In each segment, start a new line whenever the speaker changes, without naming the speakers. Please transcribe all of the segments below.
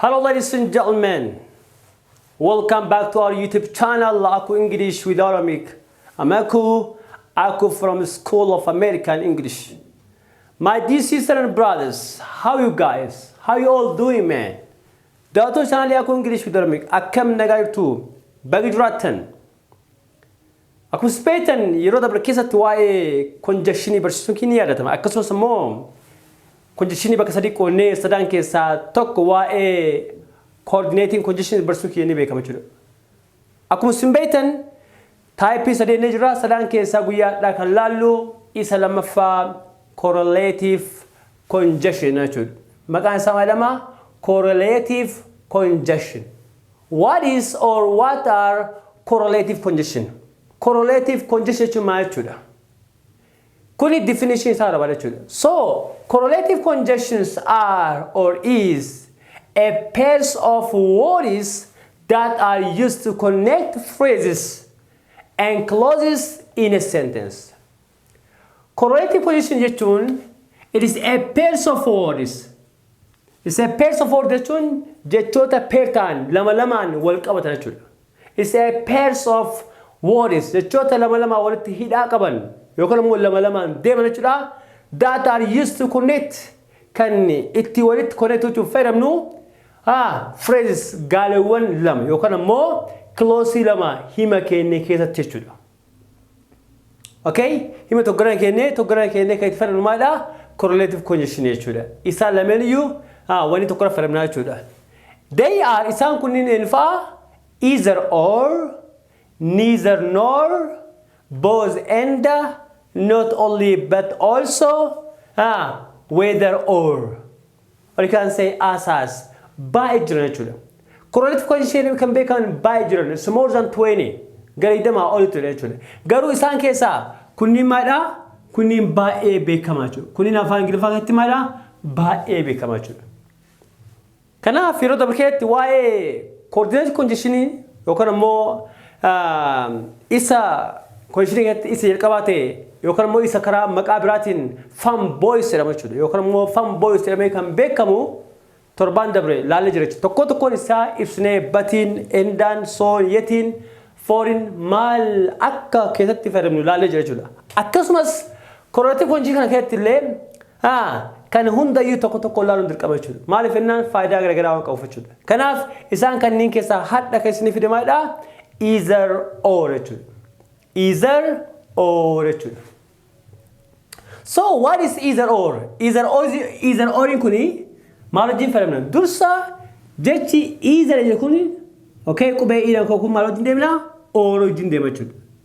Hello ladies and gentlemen, welcome back to our YouTube channel Aku English with Aramik. I'm Aku, Aku from School of American English. My dear sisters and brothers, how you guys? How you all doing man? Dato channel Aku English with Aramik. Akkam nagaa jirtu? Bagi jiraattan. Akkuma isin beektan yeroo dabre keessatti waa'ee konjakshinii barsiisuun kee ni yaadatama. Akkasumas immoo konjakshinii bakka sadii qoonnee sadaan keessaa tokko waa'ee koordineetiin konjakshinii barsiisuun kee ni beekama jechuudha. Akkuma isin beektan taayippii sadeen ni jira. Sadaan keessaa guyyaa har'aa kan laallu isa lammaffaa korreleetiif congestion jechuudha. Maqaan isaa maalama? Correlative congestion. What is or what are correlative congestion? Correlative congestion jechuun maal jechuudha? Kuni definition isaa barbaada jechuudha. So, correlative congestions are or is a pairs of words that are used to connect phrases and clauses in a sentence. Correlative position jechuun it is a pairs of words. It is a pairs of words jechuun jechoota pair ta'an lama lamaan wal qabatan jechuudha. It is a pairs of words jechoota lama lamaa walitti hidhaa qaban yookaan immoo lama lamaan deeman jechuudha. That are used to connect kan itti walitti connect gochuuf fayyadamnu ah, phrases gaaleewwan lama yookaan immoo kiloosii lama hima keenya keessatti jechuudha. Okay? Hima tokkoon hin kennee tokkoon hin kennee kan itti fayyadamnu maalidha? Correlative conjunction jechuudha. Isaan lameen iyyuu ah, wanni tokkorra fayyadamnaa jechuudha. They are isaan kunniin eenyu fa'a? Either or, neither nor, both and, not only but also, ah, whether or. Ol kan say asaas baay'ee jiran jechuudha. Correlative coefficient kan beekaman baay'ee jiran it's more than 20 gara 20 olitti jechuudha. Garuu isaan keessaa kunniin maalidha? Kunniin baay'ee beekamaa jechuudha. Kunniin afaan Ingiliffaa keessatti maalidha? Baay'ee beekamaa jechuudha. Kanaaf yeroo dabarkeetti waa'ee coordinate congestion yookaan ammoo Isa kolishinii keessatti isa jalqabaa ta'e yookaan immoo isa karaa maqaa biraatiin fan boys jedhama jechuudha yookaan immoo fan boys jedhamee kan beekamu torbaan dabre laallee jira jechuudha. Tokkoo tokkoon isaa ibsinee batiin, endaan, soon, yetiin, fooriin maal akka keessatti fayyadamnu laallee jira jechuudha. Akkasumas korrelative hojii kana keessatti illee Haa, kana hunda iyyuu tokko tokkoon ilaaluun dirqama jechuu dha. Maaliif jennaan faayidaa gara garaa waan qabuuf jechuu dha. Kanaaf isaan kanneen keessaa hadha kan isinii fide maal dha? Either or jechuu dha. Either or jechuu dha. So what is either or? Either or either oriin kuni maal wajjin fayyadamna? Dursa jechi either jedhu kuni okay qubee iidhaan koo kun maal wajjin deemna? Or wajjin deema jechuu dha.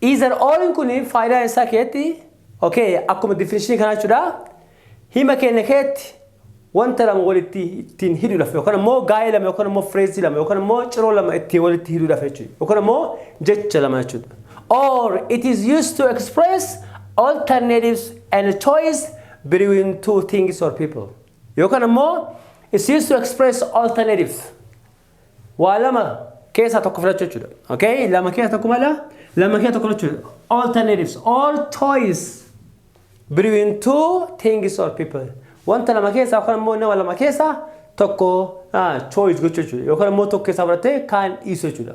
Either orin kun faayidaan isaa keetti okay akkuma definishinii kanaa jechuudha hima keenya keetti wanta lama walitti ittiin hidhuudhaaf yookaan immoo gaa'ee lama yookaan immoo fireezii lama yookaan immoo ciroo lama ittiin walitti hidhuudhaaf jechuudha yookaan immoo jecha lama jechuudha. Or it is used to express alternatives and choice between two things or people. Yookaan immoo it's used to express alternatives. Waa lama keessaa tokko filachuu jechuudha. Okay? Lama keessaa tokko mala lama keessaa tokko filachuu jechuudha. Alternatives or choice between two things or people. Wanta lama keessaa yookaan immoo nama lama keessaa tokko ah, choice gochuu jechuudha. Yookaan immoo tokko keessaa fudhattee kaan dhiisuu jechuudha.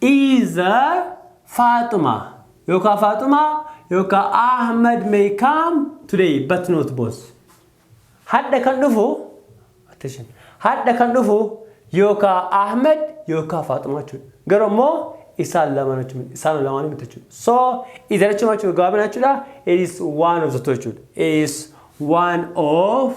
Either Fatima yookaan Fatima yookaan Ahmed may come today but not both. Hadha kan dhufu attention hadha kan dhufu yookaan Ahmed yookaan Fatima jechuudha. Garuu immoo isaan lamaan jechuudha. Isaan lamaan miti jechuudha. So either jechuun jechuudha gabaabina jechuudha. It is one of the two jechuudha. It is one of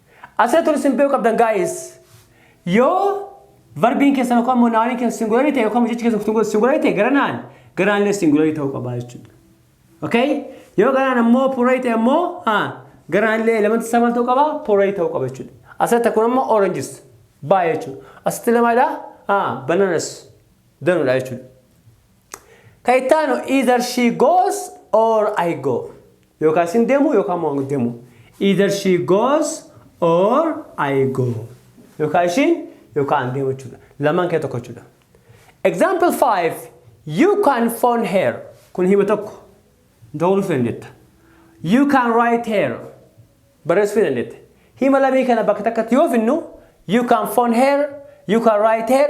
Asirratti wanti isin beekuu qabdan guys yoo verbiin keessan yookaan immoo naawoniin keessan singularii ta'e yookaan jechi keessan singularii ta'e garanaan garaan illee singularii ta'uu qaba jechuudha. Okay? Yoo garaan ammoo purarii ta'e ammoo garaan illee elementii isaa maal ta'uu qaba? Purarii ta'uu qaba jechuudha. Asirratti akkuma ammoo oranges baay'ee jechuudha. Asitti lamaadha bananas danuudha jechuudha. Kan itti aanu either she goes or I go. Yookaan isin deemu yookaan immoo ani deemu. Either she goes or I go. Yookaan ishiin yookaan ani deemu jechuudha. Lamaan kee tokko jechuudha. Example 5. You can phone her. Kun hima tokko. Dawwaluu feen jetta. You can write her. barreessuu ni dandeetta. Hima lamii kana bakka takkatti yoo finnu you can phone her, you can write her,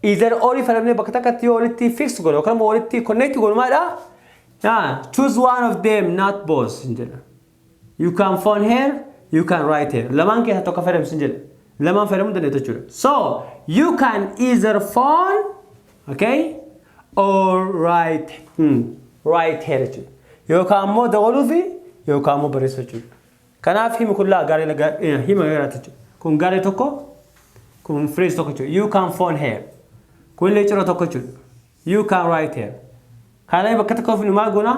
either or fayyadamnee bakka takkatti yoo walitti fix godhu yookaan immoo walitti connect godhu maalidha? Ah, choose one of them not both hin jedha. You can phone her, you can write her. Lamaan keessaa tokko fayyadamsi hin jedha. Lamaan fayyadamuu dandeetta jechuudha. So, you can either phone, okay, or right hmm. right here jechuudha yookaan ammoo dabaluu fi yookaan ammoo barreessuu jechuudha kanaaf himi kun laa garee laga- eh, hima garaati jechuudha kun garee tokko kun phrase tokko jechuudha you can phone here kun illee ciro tokko jechuudha you can write here kana bakka tokkoof nu maal goona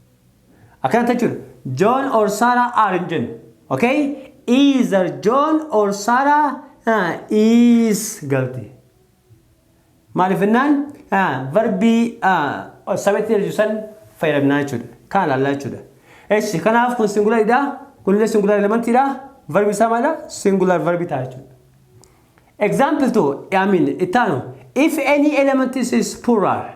Akkana jechuudha. John or Sarah are hin jennu. Okay? Either John or Sarah ah, is galti. Maaliif jennaan ah, verbii ah, sabeetti deebisu san fayyadamnaa jechuudha. Kana ilaallaa jechuudha. Eshi kanaaf kun singularidha. Kunillee singular elementiidha. Verbi isaa maalidha? Singular verbi ta'a jechuudha. Example 2, I mean, ittaanu. If any element is poorer,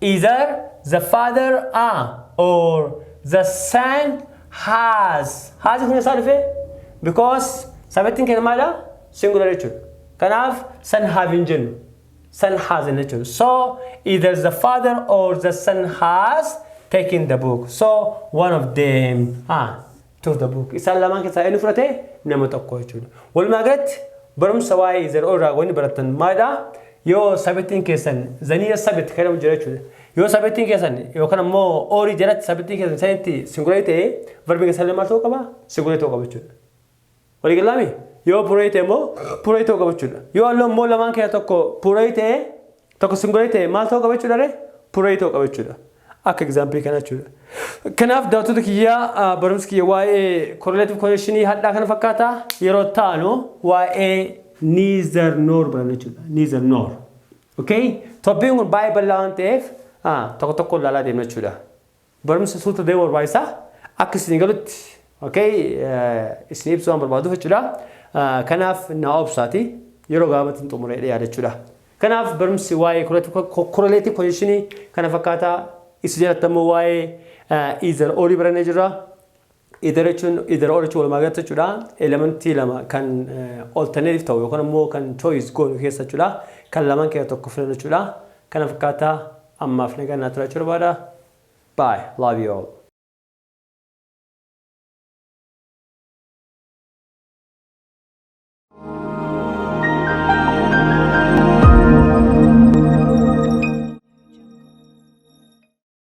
Either the father a or the son has. Has kun eessaa dhufe? Because sabettiin keenya maala? Singular jechuudha. Kanaaf son have hin jennu. Son has hin jechuudha. So either the father or the son has taken the book. So one of them. Ah. to the book. Isaan lamaan keessaa eenyu fudhate nama tokko jechuudha. Walumaa galatti barumsa waa'ee zero irraa wanni barattan maalidha? Yoo sabittiin keessan zaniya sabit kan jedhamu jira jechuudha. Yoo sabittiin keessan yookaan ammoo oorii jalatti sabittiin keessan sanitti singularity ta'ee verbiin keessan maal ta'uu qaba? Singularity ta'uu qaba jechuudha. Walii gallaa mii? Yoo puree ta'e immoo puree ta'uu qaba jechuudha. Yoo halluu immoo lamaan keessaa tokko puree ta'e tokko singuree ta'e maal ta'uu qaba jechuudha ree? Puree ta'uu qaba jechuudha. Akka egzaampilii kana jechuudha. Kanaaf daawwattoota kiyyaa barumsi kiyya waa'ee korreleetif konekshinii hadhaa kana fakkaata yeroo taanu waa'ee niizar noor baranna jechuudha. Niizar noor. Okay? Toppiin kun baay'ee bal'aa waan ta'eef tokko tokko ilaalaa deemna jechuudha. Barumsa suuta deemu barbaachisa. Akka isin galutti okay isin ibsu waan barbaaduuf jechuudha. Kanaaf na obsaati yeroo gaabatti hin xumuree dhiyaa jechuudha. Kanaaf barumsi waa'ee korreleetii koneeshinii kana fakkaataa isin jalatti ammoo waa'ee iizar oolii barannee jirra. Idara jechuun idara ol jechuun walumaa galatti jechuudha elementii lama kan alternative ta'u yookaan immoo kan choice goonu keessa jechuudha kan lamaan keessa tokko filannu jechuudha kana fakkaataa ammaaf nagaan naa turaa jechuu barbaada bye love you all.